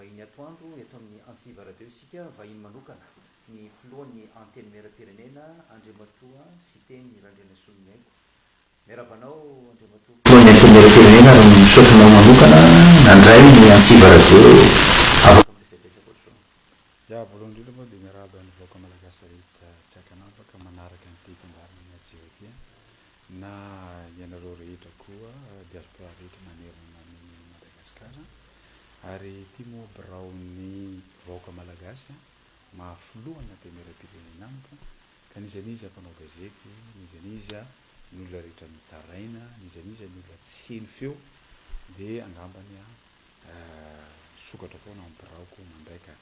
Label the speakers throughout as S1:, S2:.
S1: Vahiny atoandro eto amin'ny Antsiva Radio isika, vahiny manokana, ny filohan'ny Antenimierampirenena, Andriamatoa Siteny Randrianasolomiaiko. Miarahaba anao, Andriamatoa. Filohan'ny Antenimierampirenena ary misaotra anao manokana nandray ny Antsiva Radio. Afaka miresadresaka ohatr'izao. Ya, voalohany
S2: indrindra aloha dia miarahaba ny vahoaka malagasy rehetra tsy ankanavaka manaraka an'ity fandaharana an'i Hajiwah ity an! Na ianareo rehetra koa diaspora rehetra manerana an'i Madagasikara ary tia moa birao ny vahoaka malagasy an, maha filoha antenerapirenena amiko ka n'iza n'iza mpanao gazety, n'iza n'iza ny olona rehetra mitaraina, n'iza n'iza ny olona tsy heno feo dia angambany an, Ahh sokatra foana ny biraoko mandray ka!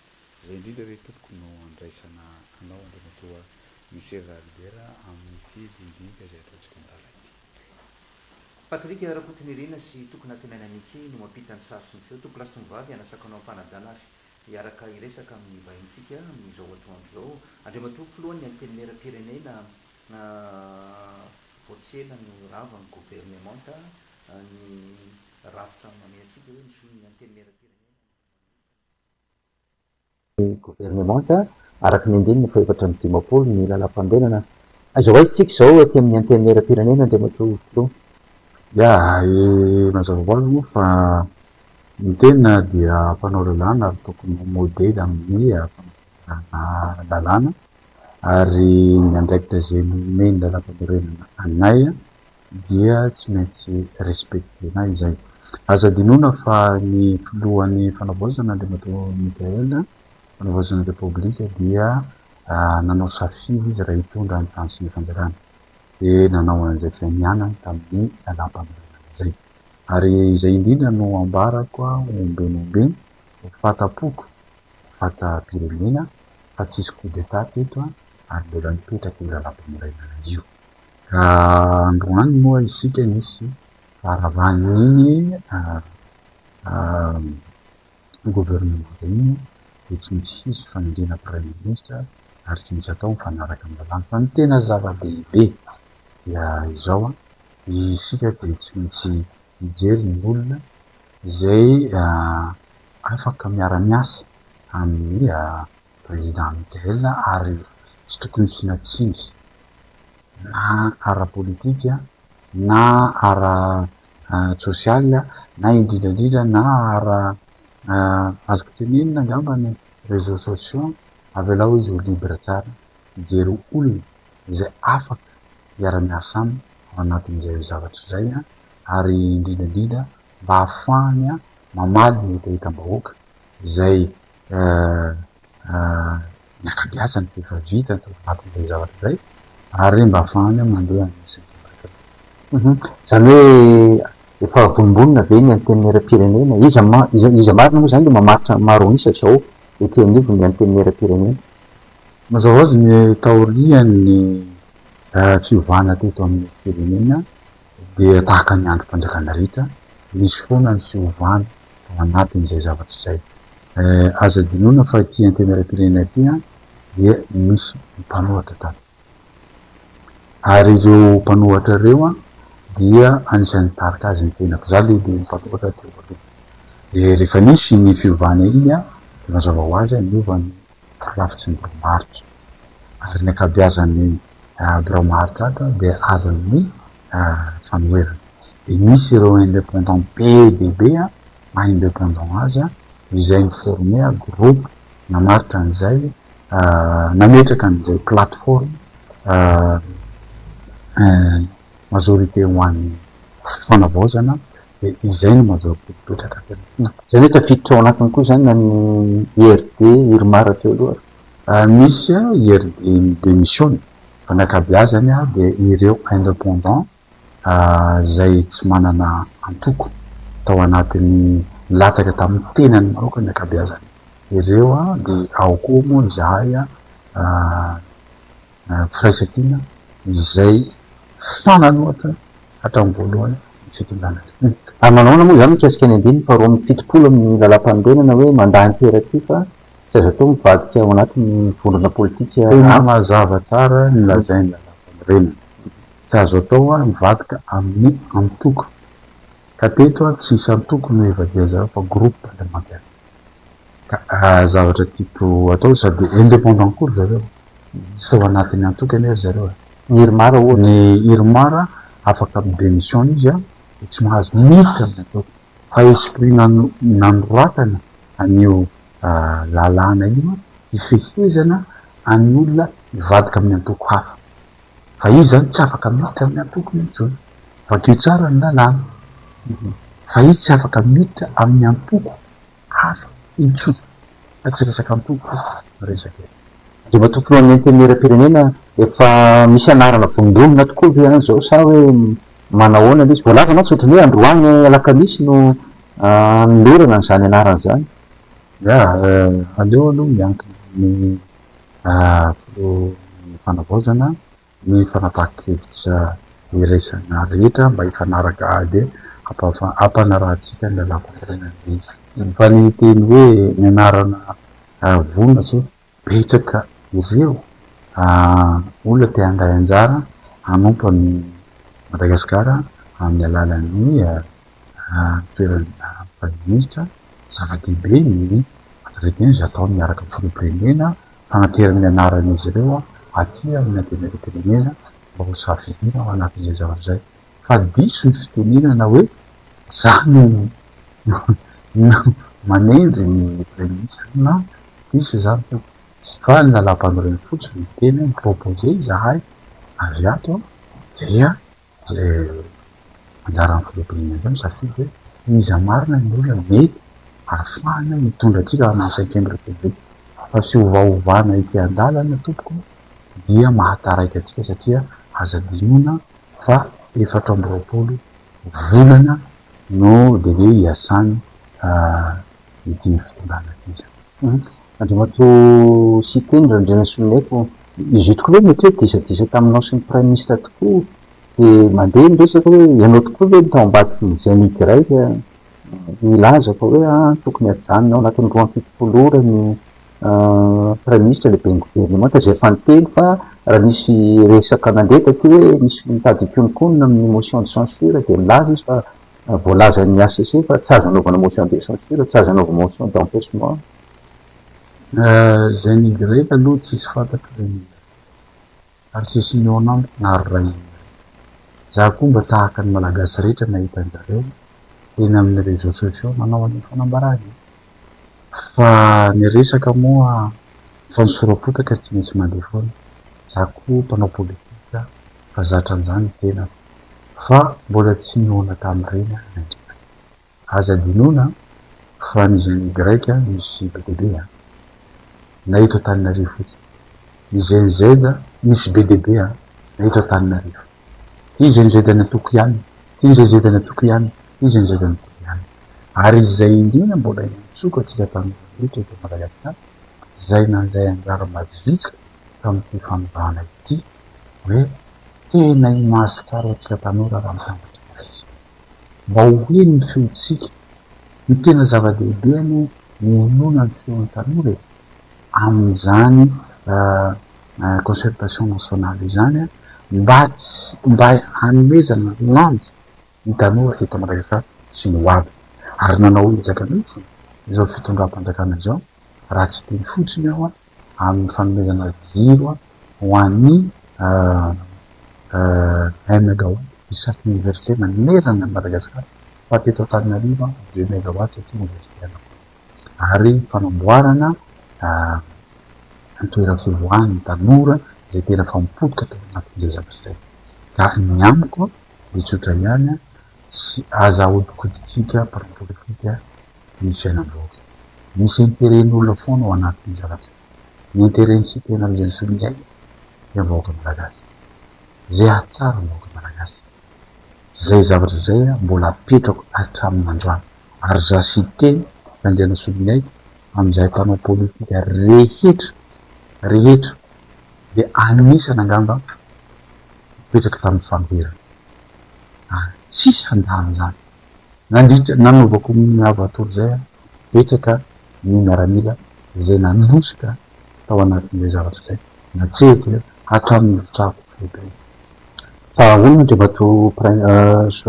S2: Izay indrindra re tompoko no andraisana anao Andriamatoa Michel Ralibera amin'ity dimbidimika izay ataontsika mirahalahy ity.
S1: Patrick Rakotonirina sy Toky Natenaina Nicky no mampita ny sary sy ny feo. Toky Lasitony Vavy hanasako anao am-panajana ary hiaraka hiresaka amin'ny vahintsika amin'izao atoandro izao. Andriamatoa Filohan'ny Antenimieram-pirenena, Ahh vao tsy ela no rava ny governemanta ny. Rafitra amin'ny mamehy antsika hoe misolo ny Antenimierampirenena ny Olombelona ny Firenena. Ny Governemanta, araka ny andininy fahefatra amby dimampolo ny Lalampanorenana. Aiza ho aiza isika izao aty amin'ny Antenimierampirenena Andriamatoa Filoha? Ya,
S2: i Mazava hoazy moa fa ny tena dia mpanao lalàna ary tokony ho modely amin'ny fampidirana lalàna ary ny andraikitra izay nomen'ny Lalampanorenana anay dia tsy maintsy respecter-na izay. Aza adinoina fa ny filohan'ny fanavaozana Andriamatoa Mickaël, fanavaozana repoblika dia nanao safidy izy raha hitondra ny tany sy ny fanjakana. Dia nanao an'izay fianianany tamin'ny lalàmpanorenana izay. Ary izay indrindra no ambarako ombieny ombieny ho fahatampoko, ho fatam-pirenena fa tsisy coup d'etat teto ary mbola mipetraka io lalàmpanorenana io. Raha androany moa isika nisy faharavahan'iny gouvernement iny dia tsy maintsy hisy fanenjehana praiminisitra ary tsy maintsy atao mifanaraka amin'ny lalàna. Fa ny tena zava-dehibe dia izao, isika dia tsy maintsy mijery ny olona izay afaka miara-miasa amin'ny. Linda Amidel ary tsy tokony hisiana tsiny na ara-politika na ara-tsosialy na indrindra indrindra na ara azoko tenenina angamba ny réseaux sociaux avelao izy ho libre tsara hijery olona izay afaka hiara-miasa aminy ao anatin'izay zavatra izay ary indrindra indrindra mba hahafahany mamaly ny hetahetam-bahoaka izay Miaka-piasa ny vehivavy vita atao anatin'izay zavatra izay ary mba afahany mandeha any sy ny sisa araka izany. Izany hoe efa vonombonona ve ny Antenimierampirenena? Iza iza marina moa izany dia mamaritra maro isa izao ety anivon'ny Antenimierampirenena? Mazava ho azy ny taorian'ny fiovana teto amin'ny firenena, dia tahaka ny androm-panjakana rehetra, misy foana ny fiovana ao anatin'izay zavatra izay. Aza adinoina fa ity antenimieram-pirenena ity dia misy mpanoratra tato. Ary ireo mpanoratra ireo dia anisan'ny nitarika azy ny tenako. Izaho aloha dia mpanoratra teo aloha. Dia rehefa nisy iny fiovana iny dia mazava ho azy niova ny talavitry ny birao marika ary ny ankabeazan'ny birao marika ato dia azon'ny fanoherana. Dia misy ireo indépendants be dia be maha indépendants azy izay mi-former groupe namaritra an'izay, nametraka an'izay plateforme majorité ho an'ny fanavaozana. dia izay no mandra-po mipetraka avy amin'ny fo. Izay no tafiditra ao
S1: anatiny koa izany na ny IRD, Irmar teo aloha ary. Misy
S2: IRD midemissiona, fa ny ankabeazany dia ireo independants izay tsy manana antoko tao anatin'ny nilatsaka tamin'ny tenany maoka ny ankabeazany. Ireo dia ao koa moa izahay Ny firaisan-kina izay fanana ohatra hatramin'ny voalohany ny fitondrana. Ary manao ahoana moa
S1: izany mikasika ny andininy faharoa amby fitopolo amin'ny Lalàmpanorenana hoe mandahan-toera ity fa tsy azo atao ny mivadika ao anatin'ny vondrona politika hafa? Tena mazava tsara
S2: ny lazain'ny Lalàmpanorenana. Tsy azo atao ny mivadika amin'ny antoko. Ka teto tsy hisy antoko no hivadia zareo fa groupe parlementaire. zavatra type atao sady independant koa ry zareo tsy tao anatin'ny antoko anie ry zareo e. Ny irmar ohatra. Ny
S3: irmar
S2: afaka mi-demission izy an, dia tsy mahazo miditra ny ataoko fa esprit nanoratana an'io lalàna io an, hifehezana an'ny olona hivadika amin'ny antoko hafa. Fa izy zany tsy afaka miditra amin'ny antokony intsony. Vakio tsara ny lalàna. Fa izy tsy afaka miditra amin'ny antoko hafa intsony. Fa tsy resaka antoko io no resaka eto. Andriamatoa
S3: Filohan'Antenimierampirenena, efa misy anarana vondronina tokoa ve any izao sa hoe manahoana ilay izy? Voalaza mantsy ohatran'ny hoe androany alakamisy no hanolorana an'izany anarana izany.
S2: Yah, aleo aloha miankina amin'ny Filohan'ny Fanavaozana ny fanapahan-kevitra iraisana rehetra mba hifanaraka ady hampanarahantsika ny lalànan'ny firenena. Fa ny teny hoe ny anarana vonona sao betsaka ireo olona te handray anjara hanompo an'i Madagasikara amin'ny alalan'ny Raha ny toerana Praiminisitra, zava-dehibe ny fanadihadiana izay ataony miaraka amin'ny Filoham-pirenena, fanaterana ny anaran'izy ireo aty amin'ny Antenimierampirenena mba ho safidiana ao anatin'izay zavatra izay. Fa diso ny fitenenana hoe izany no manendry ny Praiminisitra. Non, diso izany Tompoko. Fa ny Lalàmpanorenana fotsiny no tena mi-proposer izahay avy ato dia. ilay anjaran'ny filoham-pirenena indray misafidy hoe iza marina ny olona mety ahafahana hitondra antsika amin'ny cinquième république fa fiovaovana ety an-dalana tompoko dia mahataraiky antsika satria aza adinoina fa efatra amby roapolo volana no délai hiasany ity ny fitondrana ity izany.
S3: Andriamatoa Siteny Randrianasoloniaiko, izy io tokoa ve mety hoe disadisa taminao sy ny Praiminisitra tokoa dia mandeha ny resaka hoe ianao tokoa ve no tao ambadiky ny Génie Grec nilaza fa hoe ah tokony hajanona ao anatin'ny roa amby fitopolo ora ny Praiminisitra lehiben'ny Governemanta izay efa niteny fa raha nisy resaka nandeha taty hoe nisy mitady hikonokonona amin'ny motion de censure dia nilaza izy fa Voalazan'ny hcc fa tsy azo anaovana motion de censure, tsy azo anaovana motion d'empechement.
S2: Izay ny grefy aloha tsisy fantatro izay ny ary tsisy nihaona amiko na ary raha inona. Za koa mba tahaka ny malagasy rehetra nahita anjareo eny amin'ny réseaux sociaux nanao an'io fanambarana io. Fa ny resaka moa fa ny sora-potaka tsy maintsy mandeha foana, za koa mpanao politika fa zatra an'zany ny tenako fa mbola tsy nihaona tamin'ireny aho na indray. Aza adinoina fa ny zany grec misy be dia be an! na eto Antananarivo fotsiny. Ny GNZ misy be dia be an, na eto Antananarivo. Ty GNZ an Antoko ihany, ty GNZ an Antoko ihany, ty GNZ an Antoko ihany. Ary izay indrindra mbola iantsoako antsika tanora rehetra eto Madagasikara, izay nandray anjara mavitrika tamin'ity fanondroana ity, hoe tena imaso tsara antsika tanora raha mitambatra iray isika. Mba ho heno ny feontsika. Ny tena zava-dehibe aloha hohenoina ny feon'ny tanora e, amin'izany concertation nationale izany mba tsy, mba hanomezana lanja ny tanora eto Madagasikara sy ny hoavy. Ary nanao ezaka mihitsy izao fitondram-panjakana izao, raha tsy teny fotsiny aho an! amin'ny fanomezana jiro ho an'ny un megawatt i chaque université manerana an'i Madagasikara fa teto Antananarivo deux megawatt satria université Analakely ary fanamboarana toeram-pivoahan'ny tanora izay tena fa mipotika tao anatin'izay zavatra izay ka ny amiko dia tsotra ihany Tsy aza ahodikodintsika mparipolitika ny fiainam-bahoaka. Misy interen'olona foana ao anatin'ny zavatra. Ny interen' sy tena mizan'ny solikaina dia ny vahoaka malagasy. Izay hahatsara ny vahoaka malagasy. Izay zavatra izay mbola apetrako hatramin'ny androany. Ary izaho Siteny Randrianasoloniaiko amin'izahay mpanao politika rehetra rehetra dia anisany angamba nipetraka tamin'ny fanoherana. ary tsisy handalo izany. Nandritra ny nanaovako ny lavator izay aho, betsaka ny miaramila izay nanosika tao anatin'ilay zavatra izay, natsehiko hatramin'ny efitrano foibe. Fa ahoana Andriamatoa Prince,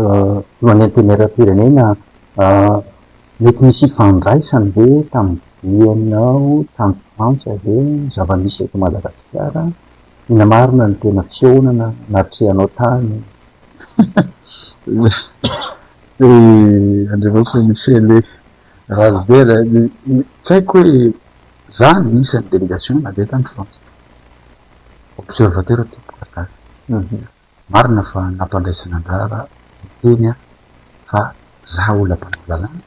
S2: Filohan'ny Antenimierampirenena, mety nisy ifandraisany ve tamin'ny dianao
S3: tany Frantsa ve ny zava-misy eto Madagasikara Tena marina ny tena fihaonana natrehanao tany
S2: ry Andriamatoa Michele Rajoelina tsy haiko hoe za anisan'ny delegation nandeha tany France observateur temporaire. Marina fa nampandraisana anjara ny teny aho fa za ola mpanao lalàna,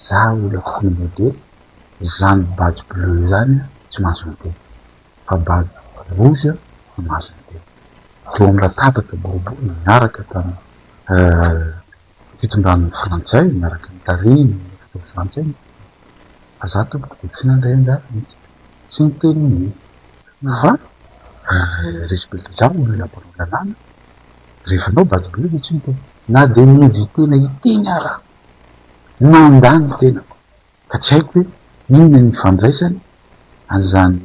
S2: za ola fony modely, zany badge bleu izany tsy mahazo miteny fa badge rouge no mahazo miteny. Teo amin'ny latabatra boribory niaraka tamin'ny. Fitondran'ny frantsay miaraka ny tarehin'ny hôpitao frantsay no tokony fa za tompoko dia tsy nandray angaha mihitsy tsy niteny hoe fa respecter ny olona mpanao lalàna rehefa anao bado be dia tsy niteny na dia ny inviter-na hiteny ara nandà ny tenako. Ka tsy haiko hoe inona ny ifandraisany an'izany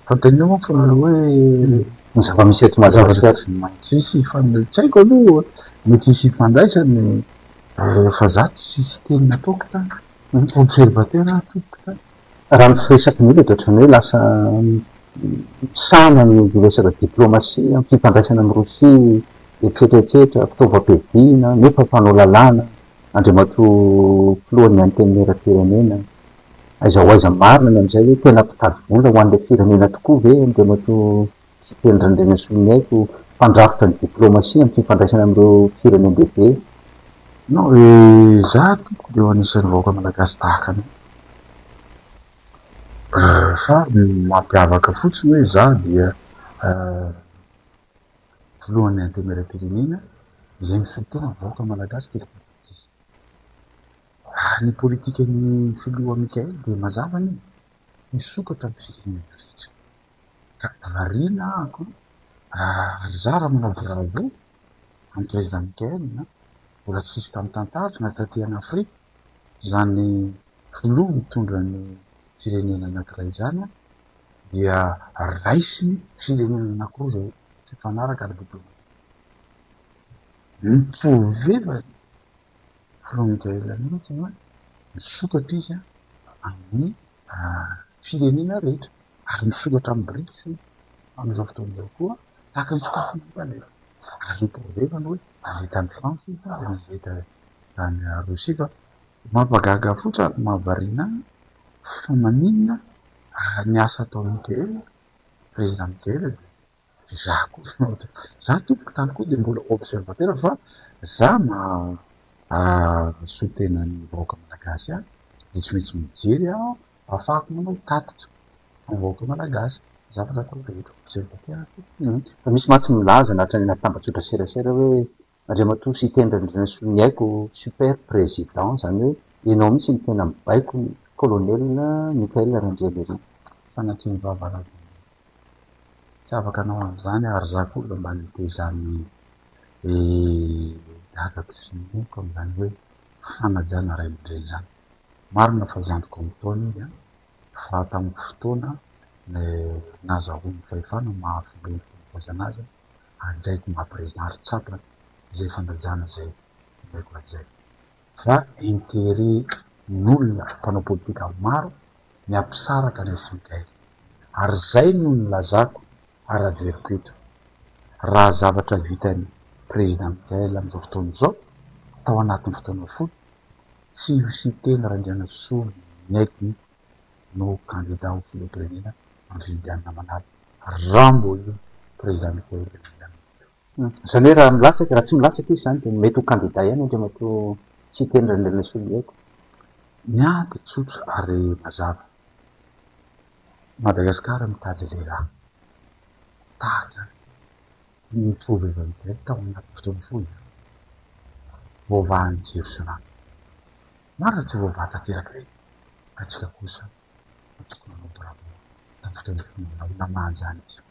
S2: fanontaniana moa fa hoe ny
S3: zava-misy eto Madagasikara no tsisy ifandraisany,
S2: tsy haiko aloha mety hisy ifandraisany fa za tsy systeme ataoko ka observateur aho tompoko ka. Raha ny firesaka
S3: indrindra dia ohatran'ny hoe lasa misahana ny resaka diplomasia, ny fifandraisana amin'i Rosia, etsetra etsetra, fitaovam-piadiana, nefa mpanao lalàna Andriamatoa Filohan'ny Antenimierampirenena, aiza ho aiza marina ny amin'izay hoe tena mpitady vola ho an'ilay firenena tokoa ve Andriamatoa Siteny Randrianasoniaiko, mpandrafitra ny diplaomasia amin'ny fifandraisana amin'ireo firenendehibe?
S2: Non, izaho tompoko dia eo anisan'ny vahoaka malagasy tahaka anao. Fa ny mampiavaka fotsiny hoe izaho dia. filohan'ny antenimieram-pirenena izay misolotena ny vahoaka malagasy teto Madagasikara. Ary ny politikan'ny filoha Mickael dia mazava anie, hisokatra amin'ny firenena rehetra. Ka variana ahako raha ry zara manao bravo an'i Président Mickael na mbola tsy nisy tamin'ny tantariko na taty an Afrika izany filoha mitondra ny firenena anankiray izany dia raisin'ny firenena anankiroa izay hifanaraka ara-diplaomatika. Mitoveva ny frontières mihitsy na misokatra izy amin'ny firenena rehetra ary misokatra amin'ny Brics izy amin'izao fotoana izao koa tahaka ny sokafiny eto anefa ary mitoveva ny hoe avita any France izy na avita any Rosia fa mampagaga fotsiny ary mahavariana ahy fa maninona Ary ny asa ataon'i Michael, Président Michael dia za koa za tompoko tany koa dia mbola observateur fa za mahasoa tena ny vahoaka malagasy ahy dia tsy maintsy mijery aho afahako manao tatitra amin'ny vahoaka malagasy ny zavatra ataoko rehetra observateur aho fa misy
S3: mantsy milaza nahatrehan'ny latabatra an-tserasera hoe Andriamatoa Siteny Randrianasoa ny aiko super président zany hoe enao mihitsy no tena mibaiko ny colonel Michael Randrianirina. Sanatria
S2: vava ra dia tsy afaka anao an'izany ary za koa mba mba nite izany dadako sy neniko amin'izany hoe fanajana ray aman-dreny izany. Marina fa zandriko amin-taona izy fa tamin'ny fotoana nazahoany fahefana maha filohany fanabeazana azy ajaiko mba prezary tsapa izay fanajana izay ilaiko ajaiko fa interet n'olona mpanao politika maro ny ampisaraka an'i Smigail ary zay no nilazako ary averiko eto raha zavatra vitan'i Prezida Migail amin'izao fotoana izao tao anatin'ny fotoana fohy tsy ho siteny Randrianasoa Miaiky ny no kandida ho filoham-pirenena Andry Indiana Manalo Rambo io Président Michaël Andriamatoa io.
S3: Izany hoe raha milatsaka, raha tsy milatsaka izy izany dia mety ho kandida ihany Andriamatoa Siteny Randrianasoloniaiko eto. Ny ahy
S2: dia tsotra ary mazava, Madagasikara mitady lehilahy tahaka ny Trova Ivan Bell tao anaty fotoana fohy, voavahan'ny jiro sy rano. Marina tsy voavaha tanteraka ireny fa isika kosa no tokony hanao bravo tamin'ny fitantifana izany namaha izany izy io.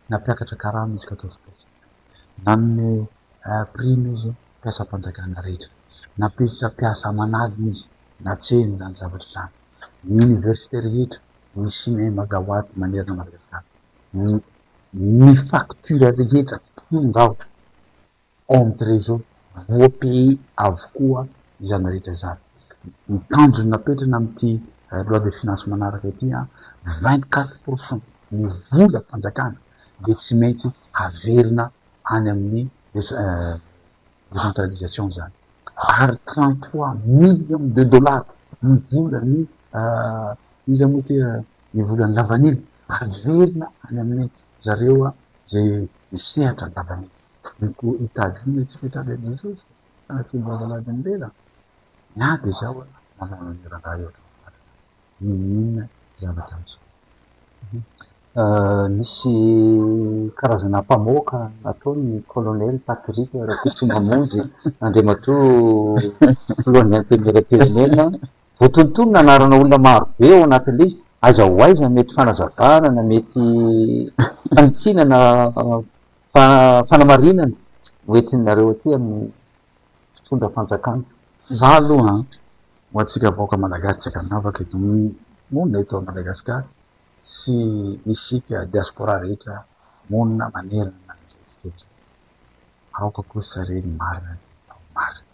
S2: Nampiakatra karama izy ka atao sport. Nanome prime izy mpiasam-panjakana rehetra. Nampiesitra mpiasa aman'aliny izy natsehiny izany zavatra izany. Ny université rehetra, ny cinema gawaty manerana Madagasikara, ny ny facture rehetra tonga ao. André zao voapehy avokoa izany rehetra izany. Ny tanjony napetrana amin'ity loi de finance manaraka ity an, vingt quatre pour cent ny vola fanjakana dia tsy maintsy averina any amin'ny décentralisation izany ary trente trois millions de dollars ny volan'ny iza moa ity ny volan'ny lavanila averina any amin'ny zareo izay misehatra ny lavanila. Mety hitady ny tsy fitsaran'i Jesosy fa tsy mbola lalaon'ny lela? Na dia izao aza, manao ny raharaha eo hatramin'ny farany n'inon'inona zavatra miseho. Misy karazana mpamoaka ataony ny Colonel Patrick Rakotomamonjy, Andriamatoa Filohan'ny Antenimierampirenena. Voatonontono ny anarana olona maro be ao anatin'ilay izy. Aiza ho aiza mety fanazavana na mety fanitsiana na. Fa fanamarinana ho entinareo aty amin'ny mpitondra fanjakana. Za aloha an, ho antsika vahoaka malagasy tsy ankanavaka eto amin'ny monina eto a Madagascar sy isika diaspora rehetra monina manerana ny manerana eto, aoka kosa re ny marina dia atao marina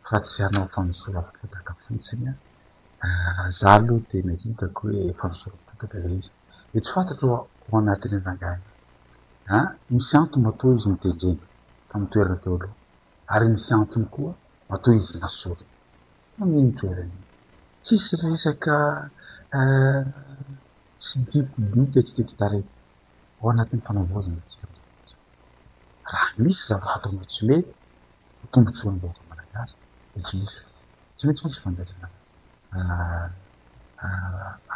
S2: fa tsy hanao fanosoram-potaka fotsiny an, za aloha tena hitako hoe fanosoram-potaka le izy. dia tsy fantatro ao anatin'io rangahy io a! misy antony matoa izy notendrena tamin'ny toerana teo aloha ary misy antony koa matoa izy nasorina tamin'iny toerana iny. Tsisy resaka tsy tiako bika tsy tiako tarehy ao anatin'ny fanavaozana antsika mivezivezy ao. Raha misy zavatra atao tsy mety ho tombontsoan'ny vahoaka malagasy dia tsy misy finoana. tsy maintsy misy fandraisana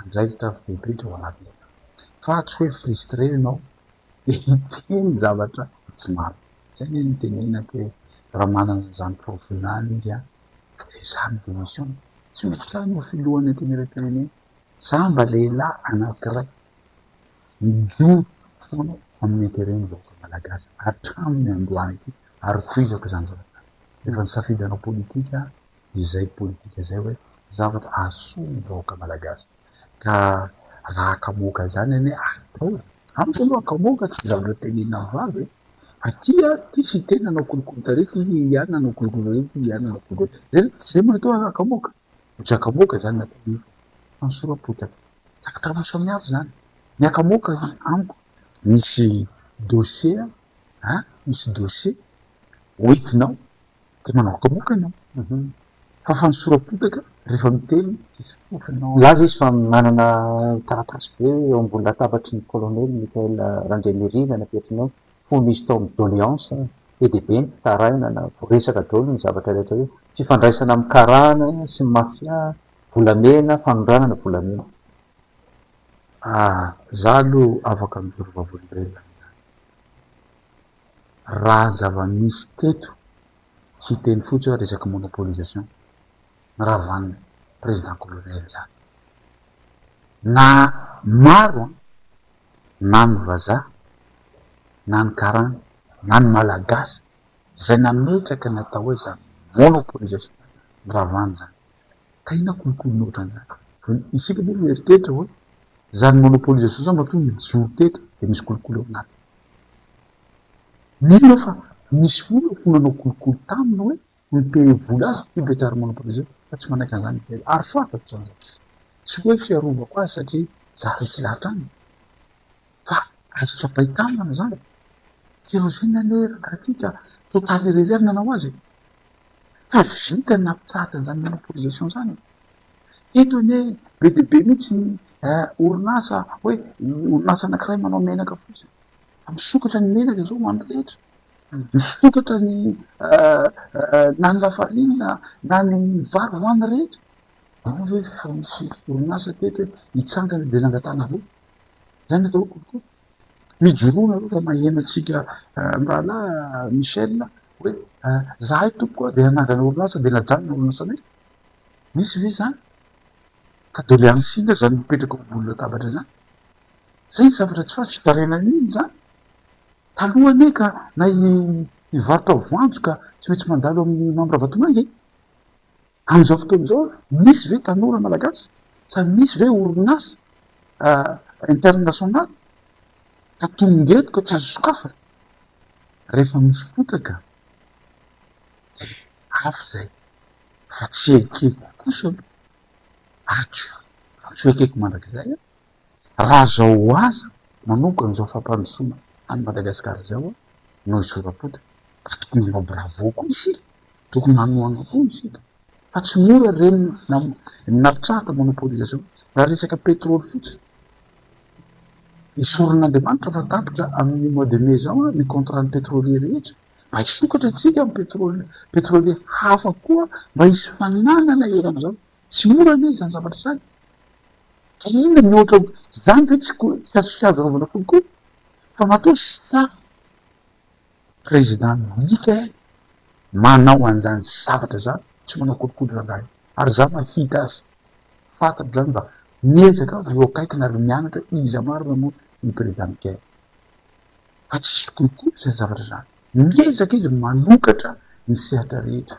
S2: andraikitra fotodrafitrasa ao anatiny ao, fa tsy hoe frustré ianao de hiteny zavatra tsy marina, zay anie no tenenako hoe raha manana an'izany profil any izy an, ezaho ny démission, tsy maintsy zany ho filohan'ny antenimieram-pirenena, za mba lehilahy anankiray mijoro foana amin'ny intérêt-n'ny vahoaka malagasy hatramin'ny androany ity. ary tohizako izany zavatra izany. Rehefa nisafidy hanao politika izay politika izay hoe zavatra hahasoa ny vahoaka malagasy ka raha hakamoaka izany anie atao. Amiko aloha hakamoaka tsy zavatra tenenina mivavy e! Fa ty a, ty sy ity nanao kolikoly tary, ty ihany nanao kolikoly aoriana, ty ihany nanao kolikoly aoriana. Zay no, zay no atao hoe hakamoaka. Fa tsy hakamoaka izany ny atao nefa fanesoram-potaka. Zavatra roa samihafa izany. Ny hakamoaka amiko misy dossier a misy dossier ho entinao de manaokamoka anao fa fanosoram-potaka rehefa miteny tsisy fofona. Milaza izy fa manana taratasy be eo ambony latabatry ny Colonel Michael Randrianirina napetriny eo, fony izy tao amin'ny doléance, be dia be ny fitarainana, voaresaka daholo ny zavatra rehetra hoe fifandraisana amin'ny karana sy ny mafia, volamena, fanondranana volamena. Ah, za aloha afaka mijery vavolombelona amin'izany. Raha zava-misy teto, tsy hiteny fotsiny hoe resaka monopolisation, noravan'ny Président Colonel izany. Na maro na ny vazaha, na ny karana, na ny Malagasy izay nametraka ny atao hoe zava-monopolisation noravana izany. Tena kolikoly noho tany ato. Ny isika moa mieritreritra hoe izany monopole izany sisa matoa mijoro teto dia misy kolikoly ao anatiny. Mino aho fa misy olona ho nanao kolikoly taminy hoe mipay vola azy io gitara monopole io fa tsy manaiky an'izany izahay ary fantako izany zavatra izany. Tsy hoe fiarovako azy satria za resy lahatra aminy. Fa azo tsapain-tanana izany. Kérosène anie rangahy ity ka total irery ihany nanao azy e! Fa vita ny nampitsahatra an'izany monopolisation izany e! Teto anie be dia be mihitsy ny orinasa hoe orinasa anankiray manao menaka fotsiny. Fa misokatra ny menaka izao ho an'ny rehetra. Misokatra ny na ny lafarinina na ny vary ho an'ny rehetra. Ao ve fa misy orinasa teto hoe hitsangana dia nangatahana vola? Zany atao hoe coucou. Mijoroa nareo raha maheno antsika mirahalahy Michel hoe zahay tompoko a de hanangana orinasa de najanona ny orinasanay. Misy ve zany? Ka doléance inona zany mipetraka eo ambony latabatra zany? Zay ny zavatra tsy fantatra, fitarainana inona zany? Taloha anie ka na i i varotra voanjo ka tsy maintsy mandalo amin'ny membre Vatomanga e! Amin'izao fotoana izao, misy ve tanora malagasy sa misy ve orinasa internasionaly ka tonga eto ka tsy azo sokafana? Rehefa misy fotaka dia hafa izay fa tsy ekeko kosa aloha, atsy atsy ho ekeko mandrakizay an! Raha zao ho aza manomboka an'izao fampandrosoana any Madagascar izao a, no hisorapoty ka tokony hanao bravo koa isika, tokony hanohana koa isika fa tsy mora ireny ny napitrahaka monopolisation raha resaka petrole fotsiny. Esorin'Andriamanitra fa tapitra amin'ny mois de mai zao ny contrat-n'ny petrolier rehetra mba hisokatra isika amin'ny petrole petrolier hafa koa mba hisy fananana eran'izao. Tsy mora anie izany zavatra izany ka inona ny ohatra ho izany ve tsy hazofijalizaovana kokoa fa matoa samy président midika eh manao an'izany zavatra izany tsy manao kolikoly rangahy ary za mahita azy fantatro izany mba miezaka aho eo akaikiny ary mianatra iza marina moa ny président Michael fa tsisy kolikoly izany zavatra izany miezaka izy manokatra ny sehatra rehetra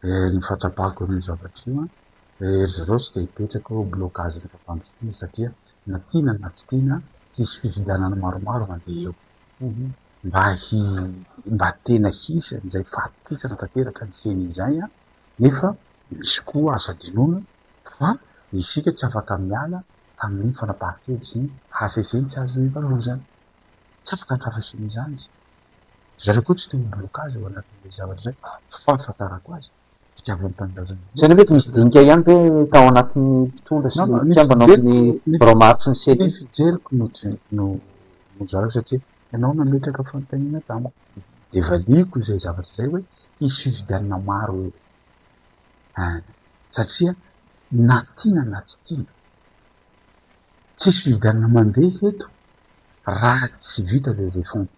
S2: Eh ny fahatsapako an'io zavatra io an, eh ry zareo tsy dia hipetraka eo blocage-n'ny fampandrosoana satria na tiana na tsy tiana hisy fifidianana maromaro mandeha eo, mba hi mba tena hisy an'izay fahatokisana tanteraka ny ceni izay an, nefa misy koa azo hadinoina fa isika tsy afaka miala tamin'iny fanapahan-kevitry ny HCC-ny tsy azo ivalozana, tsy afaka ny fahafahisan'izany isika. Zareo koa tsy te ho blocage ao anatin'ilay zavatra izay fa fahafantarako azy, fitiavan'ny tanindrazana be. Izany ve tsy misy dinika
S3: ihany ve tao anatin'ny mpitondra sy ny mpikambana ao amin'ny birao maharitra ny CEDU? Ny fijeriko no
S2: no no zara satria ianao nametraka fanontaniana tamiko dia valiako izay zavatra izay hoe hisy fifidianana maro eo an! satria na tiana na tsy tiana tsisy fifidianana mandeha eto raha tsy vita ilay refonte.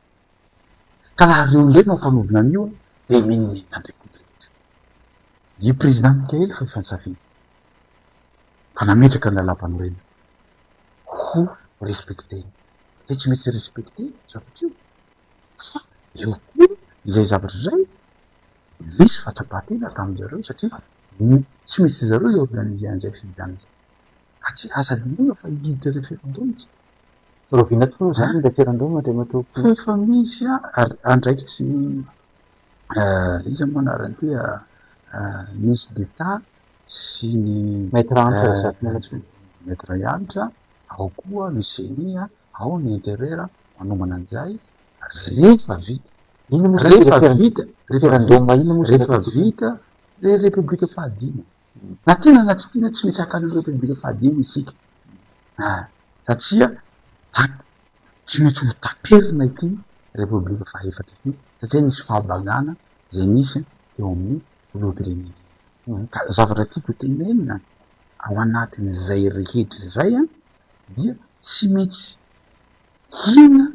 S2: Ka raha reo indray no ampanaovina an'io an, dia menimenia indray koa rehetra. Io Président Mickaël fa efa nisafidy fa nametraka ny lalàmpanorenana ho respecter-ny. Dia tsy maintsy respecter io zavatra io. Fa eo koa izay zavatra izay nisy fahatsapan-tena tamin-dry zareo satria tsy maintsy ry zareo i organiser an'izay fifidianana izay. Ka tsy asa liana fa i leader referendum tsy Rahoviana
S3: tokoa moa izany ilay fiaran-doha Andriamatoa Koto? Fa efa misy
S2: andraikitry ny iza moa anarany ity Ministre d'Etat sy ny Maître Hanitra
S3: Razafinalatsony. Maître
S2: Hanitra, ao koa ny Ceni, ao ny Interieur manohana an'izay rehefa vita. Inona moa izany ilay
S3: fiaran-doha? Rehefa vita, rehefa vita
S2: ilay Repoblika fahadimy. Na tiana na tsy tiana, tsy maintsy hakana an'ireo tobile fahadimy isika. Aa. Satria tap, tsy maintsy ho taperina ity Repoblika fahaefatra ity, satria nisy fahabangana izay nisy teo amin'ny Filoham-pirenena. Ka zavatra tiako tenenina, ao anatin'izay rehetra izay an, dia tsy maintsy hina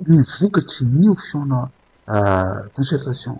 S2: ny vokatry ny fihaona concertation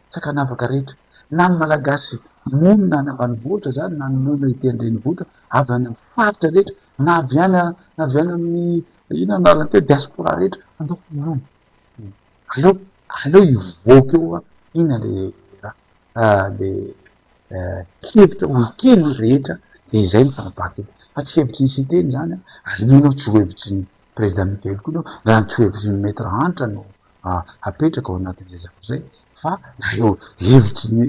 S2: sakanavaka rehetra, na ny Malagasy monina any ambanivohitra izany na ny monina ety an-drenivohitra, avy any amin'ny faritra rehetra, na avy any na avy any amin'ny inona ny anarany teo, diaspora rehetra, aleo hinoana e! aleo aleo hivoaka eo hoe inona le raha, le hevitra ho ekeny ny rehetra, dia izay no fanapahan-kevitra, fa tsy hevitry ny Siteny izany an, ary mino aho tsy ho hevitry ny Prezida Mikaily koa izao, raha ny tsy ho hevitry ny Maître Hanitra no hapetraka ao anatin'ny ezaka izay fa ireo hevitry ny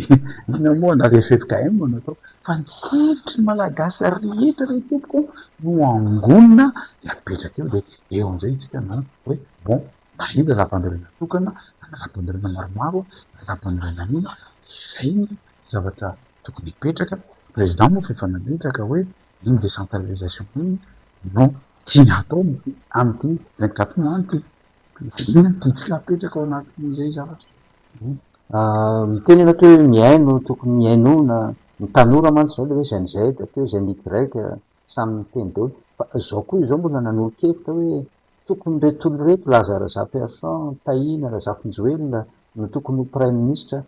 S2: inona moa na re ffkm no natao fa ny hevitry ny malagasy rehetra re tompoko no angonina de apetraka eo de eo amizay itsika no hoe bon na iny rapanirina tokana na ny rapanirina maromaro na rapanirina inona de izay ny zavatra tokony hipetraka président moa fa efa nametraka hoe iny décentralisation iny no tiany hatao amity vingt-quatre mois any ty Bitika apetraka ao anatin'izay zavatra.
S3: Miteny ianao atao hoe mihaino, tokony mihainoana, ny tanora mantsy izay ilay hoe Gen Z, atao hoe Gen Y, samy miteny daholo. Fa izao koa izao mbola nanolo-kevitra hoe tokony ireto olona ireto, Laza Razafiarison, Tahina, Razafinjoelina, no tokony ho praiminisitra.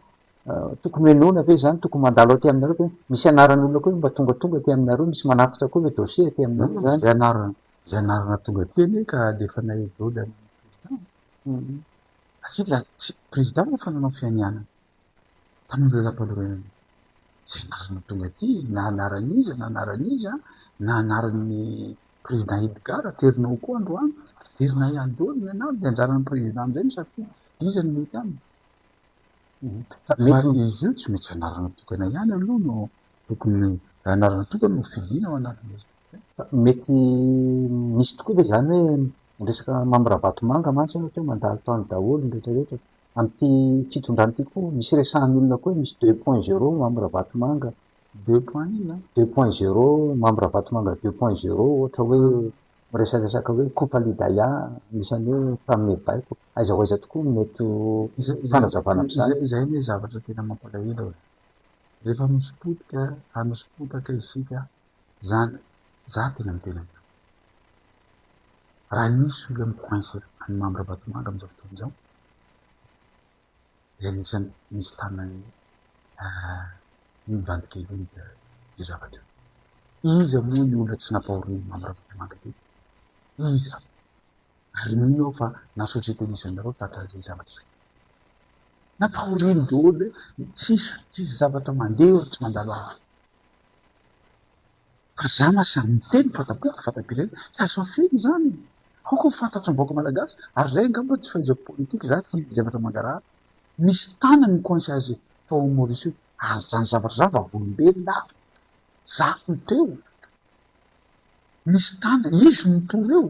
S3: Tokony hohenoina ve izany, tokony mandalo aty aminareo ve? Misy anaran'olona koa ve mba tongatonga aty aminareo, misy manatitra koa ve dossier aty aminareo izany? izay anarana
S2: tonga teny hoe ka alefanay eo daholo any amin'ny président satria la président moa efa nanao fianianana tamin'ny lalam-panorenana izay anarana tonga aty na anaran'iza na anaran'iza na anaran'ny président Edgar aterinao koa androany aterinay ihany daholo ny anarana dia anjaran'ny président amin'izay ny safidy iza ny mety aminy fa izy io tsy maintsy anarana tokana ihany aloha no tokony anarana tokana no fidina ao anatin'izay Mety
S3: misy tokoa ve izany hoe ny resaka Mamy Ravatomanga mantsy ohatra hoe mandalo tany daholo ny rehetra rehetra. Amin'ity fitondrana ity koa misy resahan'ny olona koa hoe misy deux point zero Mamy Ravatomanga. Deux point inona? Deux point zero Mamy Ravatomanga deux point zero ohatra hoe miresaresaka hoe Coup Falidaya anisan'ny hoe mpanome baiko. Aiza ho aiza tokoa no mety ho fanazavana amin'izany? Izay anie zavatra tena
S2: mampalahelo e! Rehefa misy potika ary misy potaka isika Zany za tena miteny amiko raha nisy olona mi coince any Mamy Rabatomanga amizao fotoana izao dia anisany misy tanany mivadika io zavatra io. Iza moa io olona tsy napaorin'i Mamy Rabatomanga teo? Iza? Ary mino aho fa na société misy anareo tratra izay zavatra izay. Napaoriny daholo hoe tsisy tsisy zavatra mandeha eo raha tsy mandalo afo. Fa za ma samy miteny fa tapera fa tapera iny tsy azo afeno zany e! Aoka ho fantatry ny vahoaka malagasy ary zay angamba tsy fahaizako politique za tia zavatra mangarahara misy tana ny coincage tao am Maurice io ary zany zavatra zany vavolombelona aho za no teo misy tana izy no nitory eo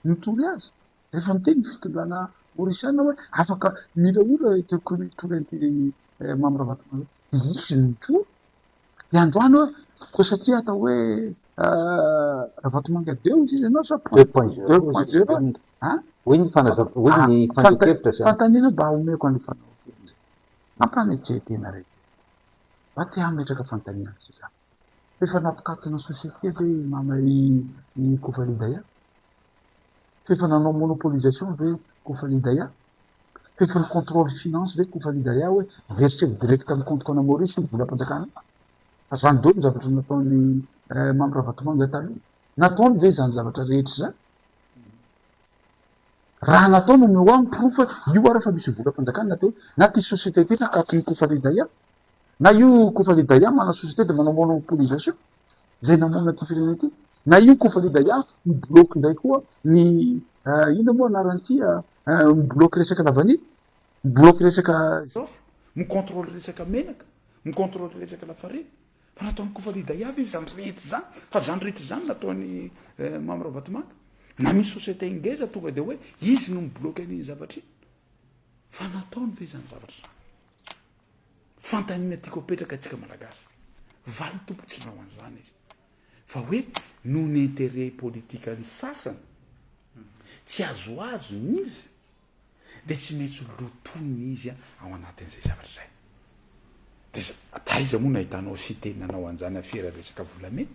S2: nitory azy Rehefa miteny ny fitondrana Orisiana hoe afaka mila olona ity Tolentininy Mamy Ravatomanga ity, dia izy no mijoro. Dia androany hoe koa satria atao hoe Ravatomanga Deus izy ianao sa Deus point zero? a? Hoy ny fandrian-kevitra
S3: izany. Fanontaniana mba omeko an'io
S2: fanaovan-kevitra izay. Mampanetseha-tena raikely. Mba te hametraka fanontaniana amintsika aho. F'efa nampikatona ny société ve i Mama i i Kofalidaya? F'efa nanao monopolisation ve Kofalidaya? F'efa ny contrôle finance ve Kofalidaya hoe verser direct amin'ny compte ko ana Maurice ny volam-panjakana? Fa zany dôly ny zavatra nataon'i eh Mamy Ravatomanga taloha. Nataony ve izany zavatra rehetra izany? Raha nataony omeo ahy ny porofo hoe io ary fa misy volam-panjakana teo na ty société ty na katon'i Kofalidaya? Na io Kofali Daya manao société de manao monopolisation izay namono ity firenena ity, na io Kofali Daya mi-bloque indray koa ny inona moa anaran'ity mi-bloque resaka lavania, mi-bloque resaka. Zaofa, mi-contrôle
S4: resaka menaka, mi-contrôle resaka lafarina. Fa nataon'i Kofali Daya ve izany rehetra izany? Fa izany rehetra izany nataon'i Mamy Ravatomanga? Na misy société ngeza tonga dia hoe izy no mi-bloque an'iny zavatra iny? Fa nataony ve izany zavatra izany? Fanontaniana tiako apetraka antsika Malagasy. Valiny Tompo tsy manao an'izany Izy. Fa hoe noho ny intérêt politikan'ny sasany, tsy azoazony izy, dia tsy maintsy lotoina izy ao anatin'izay zavatra izay. Dia aiza moa no ahitanao site nanao an'izany afera resaka volamena?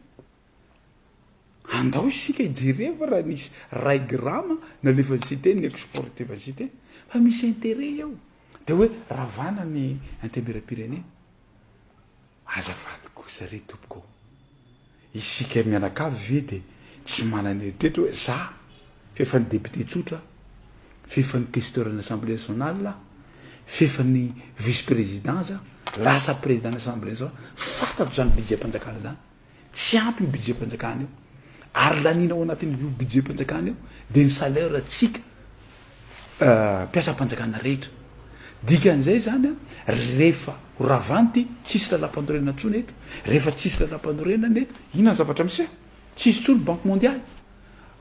S4: Andao isika hijereva raha nisy ray grama nalefan'i Siteny ny exportiva Siteny fa misy interet eo dia hoe ravana ny intemeram-pirenena. Azafady kosa re tompoko ô! Isika mianakavy ve dia tsy manana eritreritra hoe za fefan'ny député tsotra aho, fefan'ny questeur an'ny assemblée nationale aho, fefan'ny vice-président za, lasa président an'ny assemblée nationale, fantatro izany budget-mpanjakana izany. Tsy ampy io budget-panjakana io. Ary laniana ao anatin'io budget-panjakana io dia ny salaire-ntsika mpiasam-panjakana rehetra. Dikan'izay izany, rehefa ho ravanty, tsisy lalam-panorenana intsony eto. Rehefa tsisy lalam-panorenana eto, inona ny zavatra miseho? Tsisy intsony Banque Mondiale.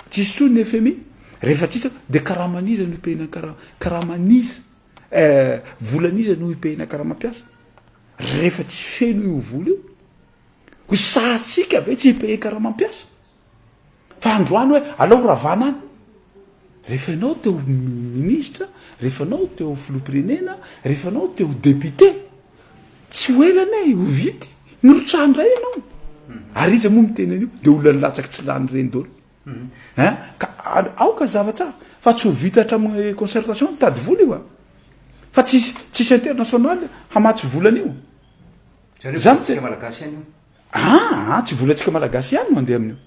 S4: Tsisy intsony ny FMI. Rehefa tsisy eo, dia karaman'iza no hipehina ny kara-, karaman'iza, eh, volan'iza no hipehina karamam-piasa? Rehefa tsy feno io vola io. Ho sahatsika ve tsy hi-payer karamam-piasa? Fa androany hoe alao ravana any. Rehefa ianao te ho minisitra, rehefa ianao te ho filoham-pirenena, rehefa ianao te ho député, tsy ho ela anie ho vita e! Mirotsaka indray ianao. Ary iza moa miteny an'io? Dia olona nilatsaka tsy lany ireny daholo. Hein? Ka aoka hazava tsara fa tsy ho vita hatramin'ny concertation mitady vola io a! Fa tsy hisy, tsy hisy international hamatsy vola an'io. Zareo vola tsika malagasy
S1: ihany io. Aa tsy vola tsika malagasy
S4: ihany no andeha amin'io.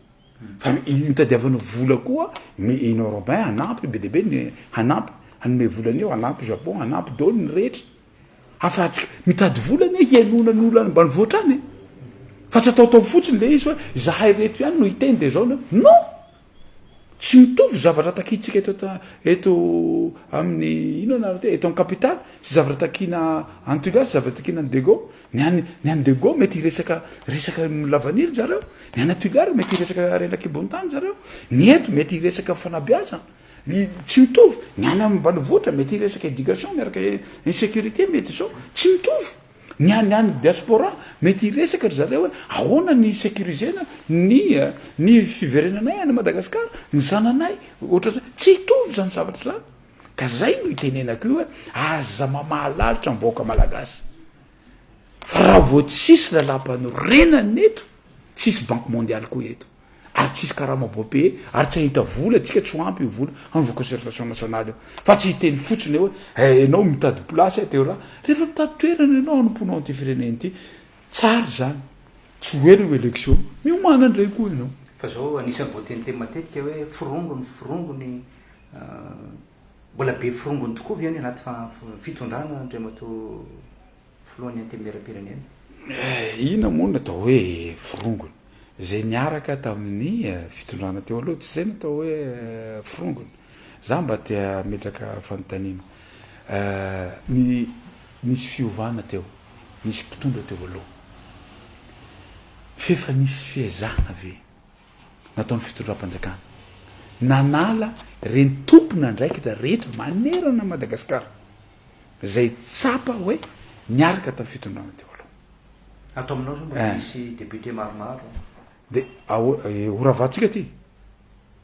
S4: Fa itadiavana vola koa ny in europeen hanampy be dia be ny hanampy hanome vola an'io hanampy japon hanampy daholo ny rehetra. Afahantsika mitady vola anie hialona ny olona any ambanivohitra any e. Fa tsy ataotao fotsiny le izy hoe zahay reto ihany no hiteny de zao na non. Tsy mitovy zavatra takintsika eto ta eto amin'ny inona nareo ty eto amin'ny capitale sy zavatra takina any Toliara sy zavatra takina any Dego, ny any ny any Dego mety hiresaka resaka lavanila zareo, ny any Toliara mety hiresaka harena an-kibon-tany zareo, ny eto mety hiresaka fanabeazana, ny tsy mitovy, ny any ambanivohitra mety hiresaka éducation miaraka insécurité mety zao, tsy mitovy. Ny any any diaspora mety hiresaka ry zareo hoe ahoana ny securisena ny ny fiverenanay any Madagascar, ny zananay, ohatran'izay. Tsy hitovy zany zavatra zany. Ka zay no itenenako io hoe aza mamaha lalitra ny vahoaka malagasy. Fa raha vao tsisy lalampanorenana eto, tsisy banque mondiale koa eto. ary tsisy karama bois payé ary tsy ahita vola atsika tsy ho ampy io vola hanaovana concertation nationale io fa tsy hiteny fotsiny hoe eh enao mitady place eh teo raha rehefa mitady toerana enao hanompoanao an'ity firenena ity tsara zany tsy ho ela io election miomana ndray koa enao Fa zao anisany
S1: voateniteny matetika hoe forongony forongony mbola be forongony tokoa ve any anaty fitondrana Andriamatoa filohan'ny antenimieram-pirenena. Inona
S4: moa no atao hoe forongony? Izay niaraka tamin'ny fitondrana teo aloha, tsy izay no atao hoe forongony? Za mba te hametraka fanontaniana. Ny nisy fiovana teo, nisy mpitondra teo aloha, f'efa nisy fiezahana ve nataon'ny fitondram-panjakana. Nanala ireny tompon'andraikitra rehetra manerana an'i Madagasikara izay tsapa hoe niaraka tamin'ny fitondrana teo aloha. Ato aminao
S1: izao mbola misy députés maromaro. Dia
S4: ahoana, horavantsika ity?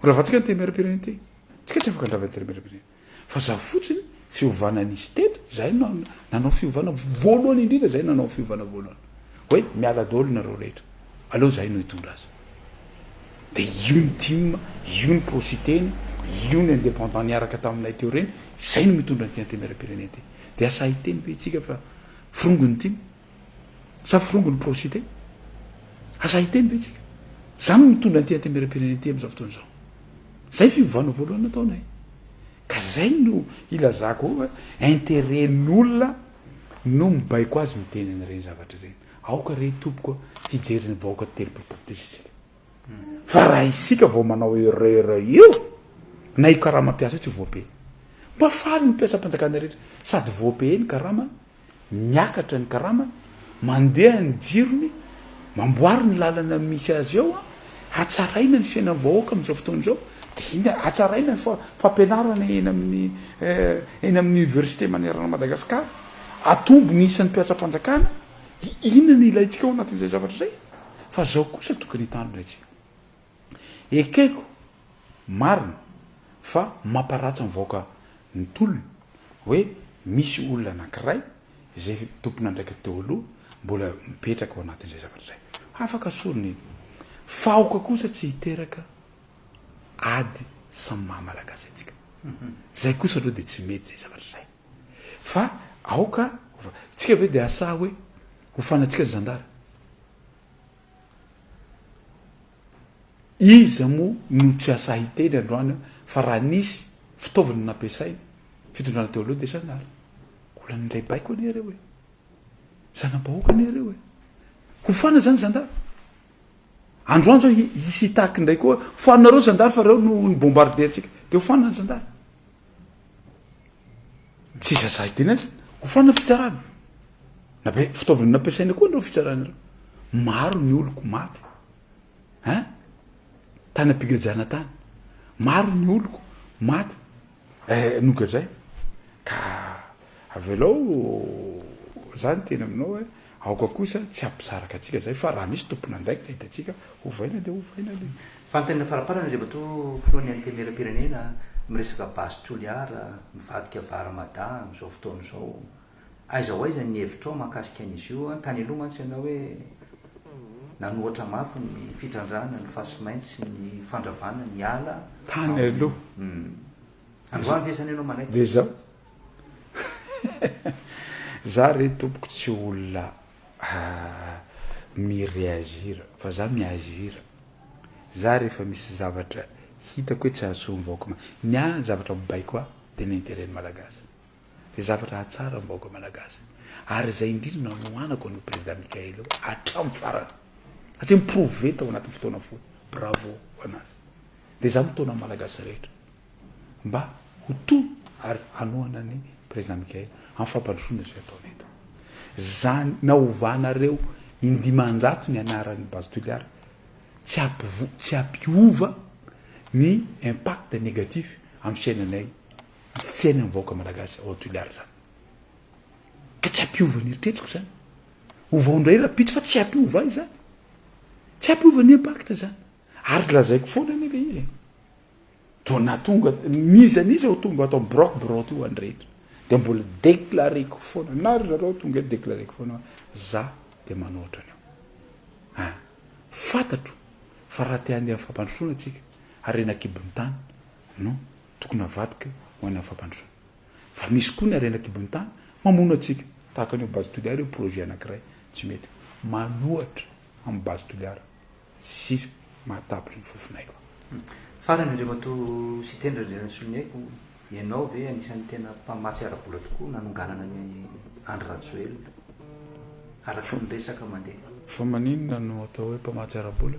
S4: Horavantsika ny Temerapirene ity? Tsika tsy afaka handrava ny Temerapirene. Fa za fotsiny fiovana nisy teto, zay no nanao fiovana voalohany indrindra, zay nanao fiovana voalohany. Hoe miala daholo nareo rehetra, aleo zahay no hitondra azy. De io ny tim, io ny pro Siteny, io ny indépendant niaraka taminay teo reny, zay no mitondra an'ity antenerapirenena ity. De asa hiteny ve itsika fa firongon'ny tim? Sa forongon'ny prosite? Aza hiteny ve tsika? Za no mitondra an'ity antemieram-pirenena ity amin'izao fotoana izao. Zay fiovana voalohany nataonay. Ka zay no ilazako ao fa interet-n'olona no mibaiko azy miteny an'ireny zavatra ireny. Aoka re tompoko hijery ny vahoaka telopolo tapitrisa isika. Fa raha isika vao manao erreur io, na io karama mpiasa io tsy voapay. Mba faly ny mpiasam-panjakana rehetra sady voapay ny karamany Miakatra ny karamany, mandeha ny jirony, mamboary ny lalana misy azy eo, hatsaraina ny fiainan'ny vahoaka amin'izao fotoana izao, dia iny hatsaraina ny fampianarana eny amin'ny eny amin'ny université manerana an'i Madagasikara, hatombo ny isan'ny mpiasam-panjakana, dia inona no ilaintsika ao anatin'izay zavatra izay? Fa izao kosa tokony hitandrina isika. Ekeko marina fa mamparatsy ny vahoaka ny tolona hoe misy olona anankiray izay tompon'andraikitra teo aloha mbola mipetraka ao anatin'izay zavatra izay. Afaka sorona iny. Fa aoka kosa tsy hiteraka ady samy maha malagasy antsika. Izay kosa aloha dia tsy mety izay zavatra izay. Fa aoka, tsika ve dia asaha hoe hofana antsika ny zandary? Iza moa no tsy hahasahy hiteny androany fa raha nisy fitaovana nampiasainy fitondrana teo aloha dia izany ary olan'ilay baiko anie ireo e! Zana-bahoaka anie ireo e! Hofana izany zandary! Androany izao hisy hitaky indray koa hoe hofaninareo zandary fa ireo no ni-bombarder antsika. Dia hofana ny zandary. Tsy zazay teny aza. Ho fanina fitsarana. Nabe fitaovana nampiasaina koa ireo fitsarana ireo. Maro ny oloko maty. Hein? Tany am-pigajana tany. Maro ny oloko maty. Eh, nogadraina. Ka avelao, za niteny aminao hoe Aoka kosa tsy hampisaraka antsika izay fa raha misy tompon'andraikitra hitantsika hovaina dia hovaina aloha. Fanontaniana
S1: faraparany izay matoa filohan'ny antenimieram-pirenena miresaka base Toliara mivadika vara Mada amin'izao fotoana izao. Aiza ho aiza ny hevitrao mahakasika an'izy io? Tany aloha mantsy ianao hoe nanohatra mafy ny fitrandrahana ny fasimainty sy ny fandravana ny ala ao. Tany aloha. Androany ve zany ianao manaiky? Dia izao.
S4: Za re tompoko tsy olona mi-reagir fa za mi-agir. Za rehefa misy zavatra hitako hoe tsy hahasoa ny vahoaka ma, ny ahy ny zavatra mibaiko ahy dia ny intérêt ny Malagasy. Dia zavatra hahatsara ny vahoaka Malagasy. Ary izay indrindra no hanohanako an'io Président Michael io hatramin'ny farany. Satria mi-prouver tao anatin'ny fotoana fohy. Bravo ho an'azy. Dia izaho mitaona ny Malagasy rehetra mba ho toa ary hanohana an'i Président Mickaël amin'ny fampandrosoana izay ataony eto. Izany naovanareo indimanjato ny anaran'ny Base Toliara tsy hampivo, tsy hampiova ny impact négatif amin'ny fiainanay, ny fiainan'ny vahoaka Malagasy ao Toliara izany. Ka tsy hampiova ny eritreriko izany. Ovao indray rahampitso fa tsy hampiova ahy izany. Tsy hampiova ny impact izany. Ary lazaiko foana anie le izy e! Toa na tonga n'iza n'iza ho tonga ato amin'ny Brock Broth io andreto dia mbola déclareko foana na ry zareo tonga eto déclareko foana hoe za dia manao ohatran'io. Ah! Fantatro fa raha te handeha amin'ny fampandrosoana tsika, harena an-kibon'ny tany no tokony avadika ho any amin'ny fampandrosoana. Fa misy koa ny harena an-kibon'ny tany mamono antsika, tahaka ny ao Base Toliara io projet anankiray tsy mety manohatra an'i Base Toliara. sisa mahatapitra ny fofonaiko. Farany
S1: indray matoa Siteny Randrianasoloniaiko, ianao ve anisan'ny tena mpamatsy ara-bola tokoa nanonganana an'i Andry Rajoelina? Araka ny resaka mandeha. Fa maninona
S4: no atao hoe mpamatsy ara-bola?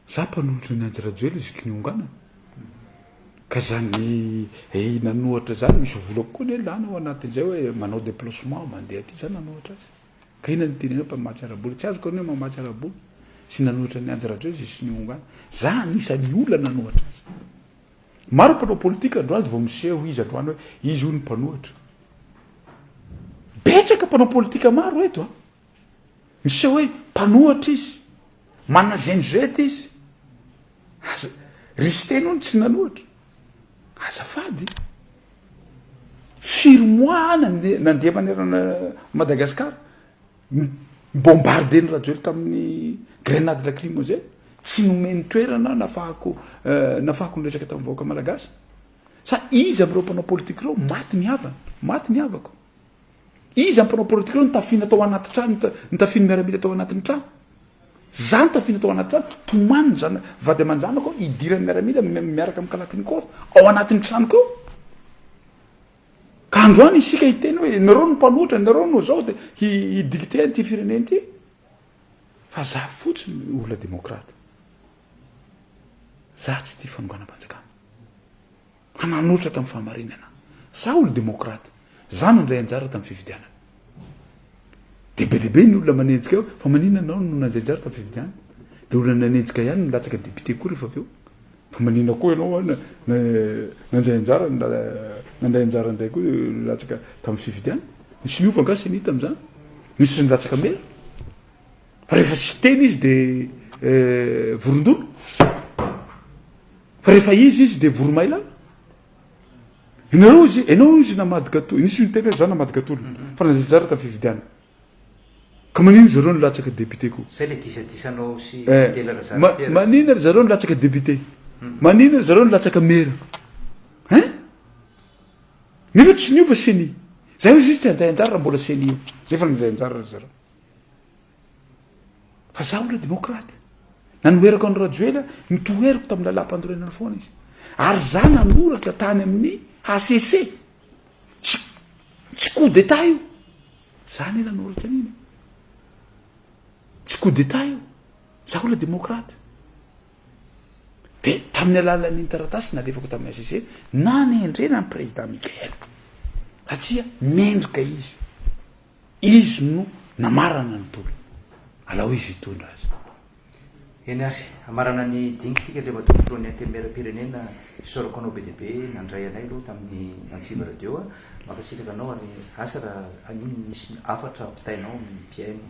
S4: Za mpanohitra an'i Andry Rajoelina izy ky nionganana. Ka zany eina an'ohatra zany misy volako koa anie lany ao anatin'izay hoe manao deplacement mandeha aty za nanohitra azy. Ka inona no tena hoe mpamatsy ara-bola? Tsy azoko ny hoe mamatsy ara-bola sy nanohitra an'i Andry Rajoelina sy ny Onga. Za anisan'ny olona nanohatra azy. Maro ny mpanao politika androany vao miseho izy androany hoe izy hono mpanohitra. Betsaka mpanao politika maro eto an! Miseho hoe mpanohatra izy, manana zenizety izy. Aza, ry Siteny hono tsy nanohatra. Azafady. Firy mois any nandeha manerana an'i Madagascar mi-bombarder ny Rajoelina tamin'ny grenade lacrymogène, tsy nomeny toerana nafahako nafahako niresaka tamin'ny vahoaka Malagasy? Sa iza amin'ireo mpanao politique ireo maty ny havany, maty ny havako? Iza ny mpanao politika ireo nitafiana tao anaty trano, nitafian'ny miaramila tao anatin'ny trano? Za nitafiana tao anaty trano, tomany zana, vady aman-janako hidiran'ny miaramila miaraka amin'ny kalachnikov ao anatin'ny tranoko ao. Ka androany isika hiteny hoe nareo no mpanohitra, nareo no zao dia hi-dicter an'ity firenena ity. Fa za fotsiny olona demokrata. Za tsy tia fanonganam-panjakana. Mpananohitra tamin'ny fahamarinana. Za olo-demokraty. Za nandray anjara tamin'ny fifidianana. Dia be dia be ny olona manenjika hoe fa maninona ianao no nandray anjara tamin'ny fifidianana? Dia olona nanenjika ihany no latsaka député koa rehefa avy eo. Fa maninona koa ianao nandray anjara nandray anjara indray koa latsaka tamin'ny fifidianana? Nisy niova angaha ceni tamin'izany? Nisy nilatsaka mera? Rehefa tsy tena izy dia vorondolo, fa rehefa izy izy dia voromailala. Ianareo izy, ianao izy namady gatolona, nisy niteny hoe za namady gatolona, fa nandeha tsara tamin'ny fifidianana. Ka maninona zareo no latsaka député koa? Zay le disadisanao
S1: sy Adela Razarapiera. Maninona
S4: ry zareo no latsaka député? Maninona ry zareo no latsaka maire? Hein? Nefa tsy niova ceni. Za hoy izy tsy handray anjara raha mbola ceni eo, nefa nandray anjara ry zareo. Fa zaho ilay demokraty. Nanoherako an'i Rajoelina, notoheriko tamin'ny lalàm-panorenana foana izy. Ary izaho nanoratra tany amin'ny HCC. Tsy, tsy coup d'état io. Izaho anie nanoratra an'iny. E. Tsy coup d'état io. Izaho ilay demokraty. Dia tamin'ny alalan'iny taratasy nalefako tamin'ny HCC, nanendrena an'i président Michael. Satria mendrika izy. Izy no namarana ny tolona. Alao izy hitondra azy. Eny
S1: ary, hamarana ny dinika isika dia matoa filohan'ny Antenimierampirenena Isaorako anao be dia be nandray anay aloha tamin'ny Antsiva Radio a! Mankasitraka anao ary asa raha haninona misy hafatra ampitainao amin'ny mpihaino.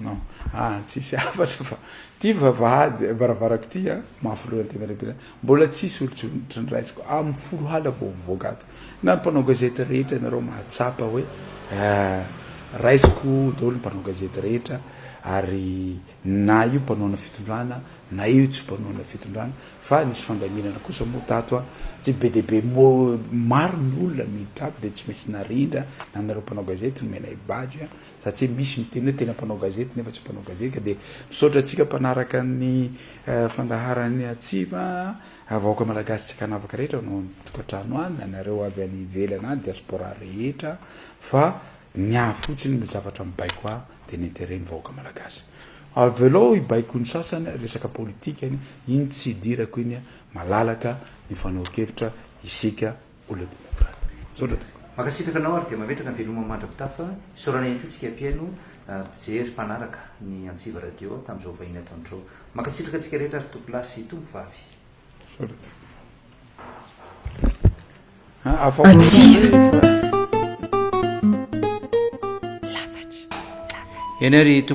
S1: Non
S4: ah tsisy hafatra fa ty vavahady varavarako ty a mafy loha ny tena lehibe mbola tsisy olotsotra niraisiko am folo hala vao mivoaka ato na ny mpanao gazety rehetra ianareo mahatsapa hoe raisiko daholo ny mpanao gazety rehetra ary na io mpanoana fitondrana na io tsy mpanoana fitondrana fa nisy fandaminana kosa moa tato a tsy be dia be mo maro ny olona miditra ato dia tsy misy narindra na anareo mpanao gazety nomenay badge satria misy miteny hoe tena mpanao gazety nefa tsy mpanao gazety dia misaotra antsika mpanaraka ny fandaharany atsy fa vahoaka malagasy tsy ankanavaka rehetra anao any tokantrano any na nareo avy any ivelana any diaspora rehetra fa ny ahy fotsiny ny zavatra mibaiko ahy dia ny intérêt ny vahoaka malagasy avelao hibaiko ny sasany resaka politika iny tsy idirako iny malalaka ny fanao kevitra isika Mankasitraka anao ary
S1: dia mametraka ny veloma mandra-pitafa, isaorana ihany koa tsika mpihaino, mpijery, mpanaraka ny Antsiva Radio tamin'izao vahiny ataontrao. Mankasitraka antsika rehetra ary Tompo lahy sy Tompo vavy.
S4: Antsiva.